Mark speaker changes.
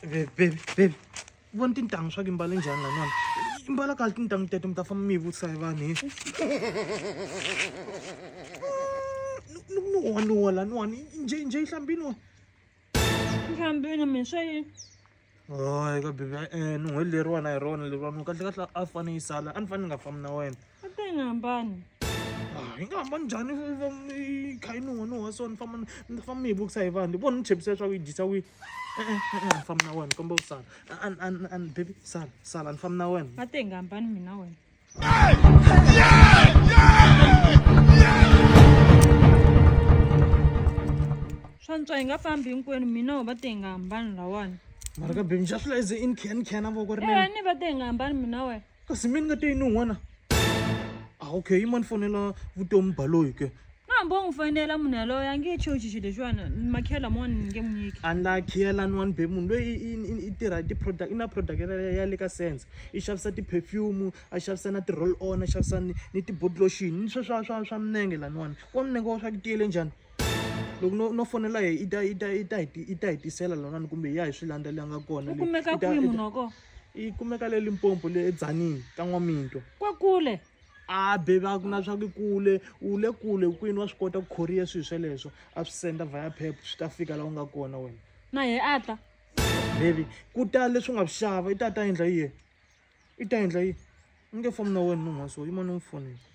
Speaker 1: baby baby baby vona tintangu swa ku i mbale njhani lanwana i mbala kahle tintangu teto mi ta famba mi yi vutisa hi vanhu hi nuwa nuwa laniwani nje nje yi hlambini wa
Speaker 2: hlambini mina swa yini hayi
Speaker 1: ka bibi e eh, nun'hweli leriwana hi rona leriwani kahle kahle a fane yi sala a ni fane ni nga fambi na wena va ta
Speaker 2: yi nga
Speaker 1: hambani ah, yi nga hambani njhani yi kha yi nuha nuha so ni famba ni famba mi yi vukisa hi vanhu vona ni chepisa leswaku yi dyisa wihi e-e e-e ni famba na wena ni kombela ku sala ani baby sala sala ni famba na wena va ta yi nga hambani mina
Speaker 2: wena swa ntswa hi nga fambi hinkwenu mina wo va ta yi nga hambani lawani mara ka baby ni xa
Speaker 1: swi la ize in can can a voko ri ni va ta yi nga hambani
Speaker 2: mina wena kasi mina nga teyini
Speaker 1: n'wana a ah, okay yima ni fonela vutomi baloyi ke hambi u n'wi fonela
Speaker 2: munhu yaloyo a nge chochi xilo lexiwana makhela mona ni nge n'wi nyiki a la khela ni
Speaker 1: wani be munhu loyi i tirha ti-product i na product ya le ka sense i xavisa ti-perfume a xavisa na ti-roll on a xavisa ni ti-botlotion ni swe swa swa swa minenge laniwani wa minenge wa swa ku tiyele njhani loko no no fonela hi i ta i ta i ta hi i ta hi tisela laniwani kumbe hi ya hi swi landza leyi nga kona u kumeka kwihi munhu wa
Speaker 2: kona yi kumeka le
Speaker 1: limpopo le edzanini ka n'waminto kwa kule
Speaker 2: a beba
Speaker 1: ku na swa ku kule u le kule kwini wa swi kota ku khoriya swilo sweleswo a swi senda via pep swi ta fika laha u nga kona wena na ye a ta
Speaker 2: bebi
Speaker 1: ku ta leswi u nga swi xava i ta ta endla yiye i ta endla yiye u nge fomi na wena munhu wa so yima ni n'wi fonela